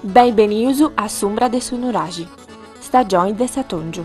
Benbènnidus a s'umbra de su nuraxi, stagioni de s'atòngiu.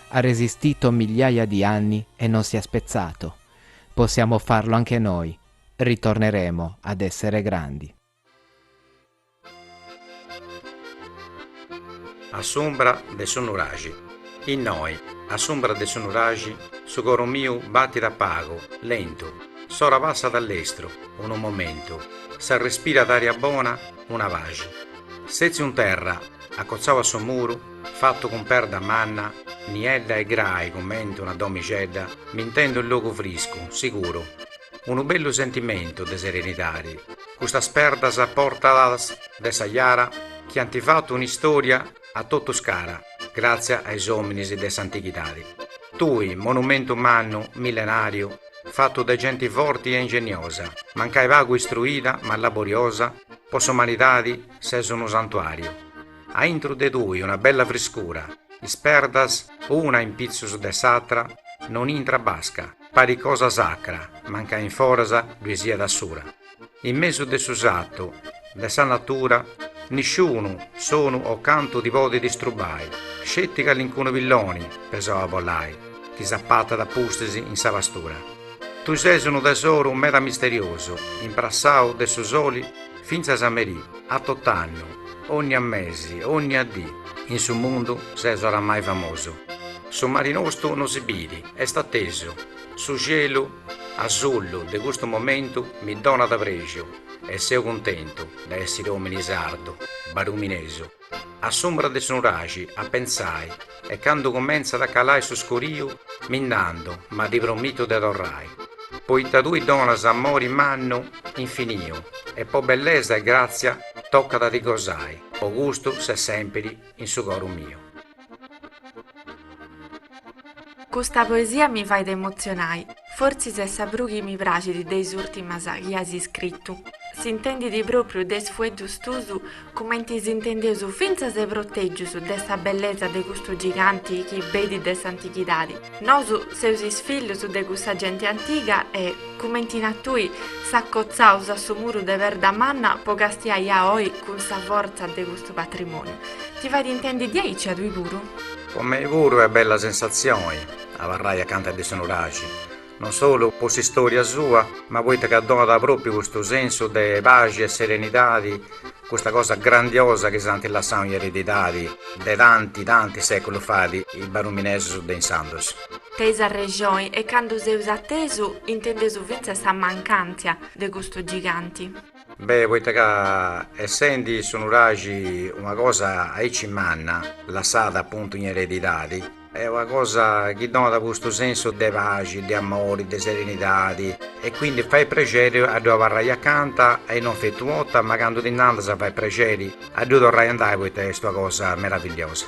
Ha resistito migliaia di anni e non si è spezzato, possiamo farlo anche noi, ritorneremo ad essere grandi. A s'umbra de su nuraxi. Innoi, a s'umbra de su nuraxi, su coru miu batit a pagu, lentu, s'ora passat a lestru, unu momentu, s'arrespirat ària bona, una paxi. Sètziu in terra, acotzau a su muru, Fattu cun perda manna, niedda e grai cumenti una domixedda, mi intendu in logu friscu, siguru. Unu bellu sentimentu de serenidadi, custas perdas portadas de sa jara chi anti fattu un'istoria a totus cara, gratzia a is ominis de s'antighidadi. Tui, monumentu mannu, millenariu, fattu de genti forti e ingeniosa, mancai pagu istruida ma laboriosa, po s'umanidadi ses unu santuariu. A intru de tui una bella friscura, is perdas una in pitzus de s'atra non intrat basca, parit cosa sacra, mancai in foras ddui siat assura. In mesu de su satu de sa natura nisciunu sonu o cantu ti podit distrubai, sceti calincunu pilloni pesau a bolai chi s'apatat a pustis in sa pastura. Tui ses unu tesoru meda misteriosu, imprassau de su soli Fintzas a merì, a tot'annu, ònnia mesi, ònnia dì. In su mundu ses oramai famosu. Su mari nostu no si bidi, est atesu. Su cielu asullu de custu momentu mi donat prexu e seu cuntentu de essiri òmini sardu, baruminesu. A s'umbra de su nuraxi a pensai e candu cumentzat a calai su scuriu mi nd'andu ma ti promitu de torrai poita tui donas amori mannu infiniu e po bellesa e gratzia tocat a ti gosai po custu ses sempiri in su coru miu. Custa poesia mi fait emotzionai, fortzis est sa prus chi mi praxit de is ùrtimas chi as iscritu. S'intendit pròpriu de is fueddus tuus cumenti s'intendeus fintzas protègius de sa bellesa de custu giganti chi benit de s'antighidadi. Nosu seus is fillus de cussa genti antiga e, cumenti nas tui, s'acotzaus a su muru de perda manna po castiai a oi cun sa fortza de custu Su patrimoniu. Ti fait intendi diaici a tui puru? Po mei puru est bella sensatzioni abarrai acanta de su Nuraxi, non solu po s'istória sua, ma poita ca donat própriu custu sensu de paxi e serenidadi, custa cosa grandiosa chi s'ant lassau in eredidadi de tanti, tanti séculus fait is baruminesus de insandus. Teis arrexoi e candu seus atesu intendeusu fintzas sa mancàntzia de custu giganti. Beh poita ca essendi su nuraxi una cosa aici manna, lassada appuntu in eredidadi, est una cosa chi donat custu sensu de paxi, de amori, de serenidadi e quindi fait prexeri a ddu abarrai acanta e non feti u' 'orta ma candu ti nd'andas fait prexeri a ddu torrai a andai poita est una cosa meravigliosa.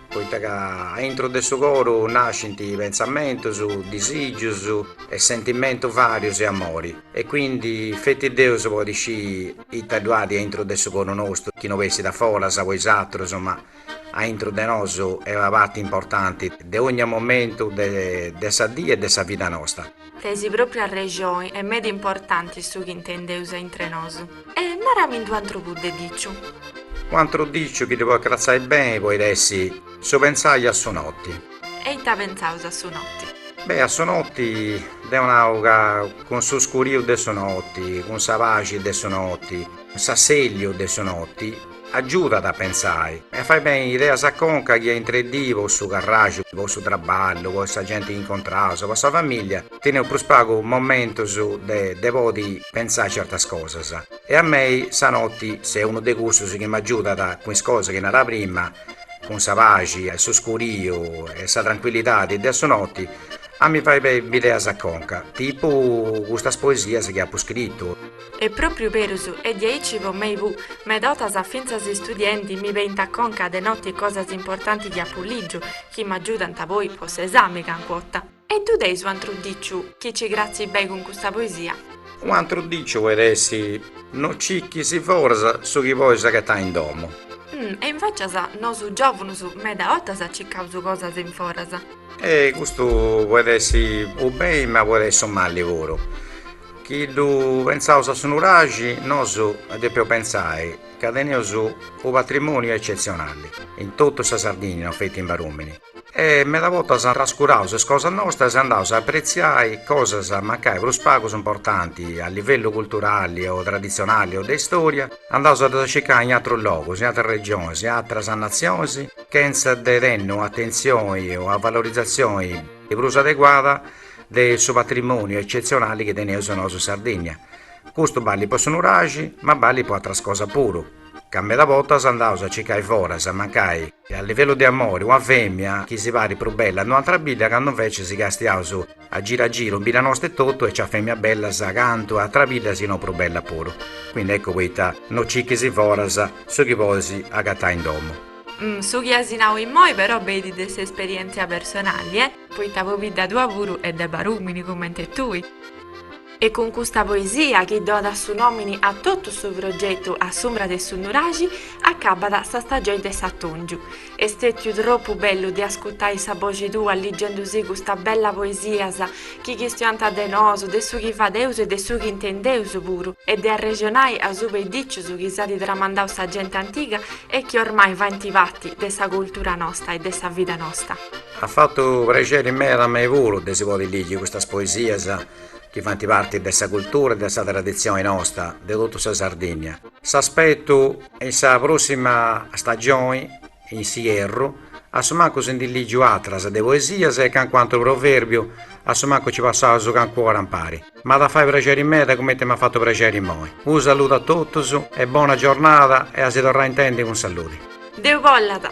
poita ca a intro de su coru nascint pentzamentus, disìgius e sentimentus varius 'e amori e quindi feti Deus podit scìi ita ddu at a intro de su coru nostru chi no bessit a foras po is atrus ma a intro de nosu est una parti importanti de ogni momentu de sa dì e de sa vida nosta. Teis propriu arrexoni, est meda importanti su chi intendeus aintr'e nosu. E naramindi u antru puru de diciu. U antru diciu chi ddi podit cratzai beni podit essi su pentzai a su noti. E ita pentzaus a su noti? Beh, a su noti deu nau ca cun su scuriu de su noti, cun sa paxi de su noti, s'assèlliu de su noti, Agiudat a pensai e a fai beni ideas a conca chi a intre dì po su carraxu, po su traballu, po sa genti chi incontraus o po sa famìllia, teneus prus pagu momentus de de podi pensai certas cosas. E a mei sa noti s'est unu de cussus chi m'agiudat cun is cosas chi nara prima, cun sa paxi e su scuriu e sa trancuillidadi de a su noti, a mi fai beni bideas a conca, tipu custas poesias chi apu scritu. Est propriu berus, est diaici po mei puru, meda 'otas fintzas istudiendi mi beint a conca de noti cosas importanti chi apu ligiu, chi m'agiudant poi po s'esami cancu 'ota. E ddu teis u antru diciu, chi nci cratzit bei cun custa poesia. U antru diciu poit essi, no cicchis foras su chi pois aghetai in domu. Hm, e invecias nosu giovunus meda 'otas cicaus cosas in foras. E custu poit essi u bei ma poit essi u mali puru. Chi ddu pentzaus a su nuraxi, nosu depeus pentzai ca teneus u' patrimoniu eccetzionali in totu sa Sardinnia, no feti in Barumini, e meda bortas trascuraus is cosas nostras e andaus a apretziai cosas mancai prus pagus importanti a livellu culturali o traditzionali o de istoria, andaus a ddas circai in atrus logus, in atras regionis, in atras natzionis, chentza de tenni u' atentzioni o a valorizatzioni prus adeguada de su patrimòniu etzetzionali chi teneus nosu in Sardigna. Custu ballit po su nuraxi, ma ballit po atras cosas puru, ca meda bortas andaus a circai foras e mancai, a livellu de amori, una fèmia chi si parit prus bella a un'atra bidda, candu invece si castiaus a giru a giru in bidda nosta etotu nc'at fèmias bellas cantu a atra bidda si no prus bella puru. Quindi eccu poita no circhis foras su chi podis agatai in domu. Su chi as nau immoi però benit de s'esperièntzia personali e. Poita pobidda tua puru est de barùmini comente tui. E cun custa poesia, chi donat su nòmini a totu su progetu A s'umbra de su nuraxi, acabat sa stagioni de s'atòngiu. Est stètiu tropu bellu de ascutai sa boxi tua ligendusi custa bella poesias chi chistiant de nosu, de su chi fadeus e de su chi intendeus puru, e de arrexonai asuba de dìcius chi s'at tramandau sa genti antiga e chi ormai faint parti de sa cultura nosta e de sa vida nosta. At fatu prexeri meda a mei puru de si podi ligi custas poesias chi faint parti de sa cultura e de sa traditzioni nosta de totu sa Sardinnia. S'aspetu in sa prossima stagioni in s'ierru, a su mancu si ndi ligiu atras de poesias e cancun'antru proverbiu, a su mancu ci passaus cancu ora impari. M'at a fai prexeri meda cumenti m'at fatu prexeri immoi. Unu saludu a totus e bona giornada e a si torrai intendi cun saludi. Deu bollat.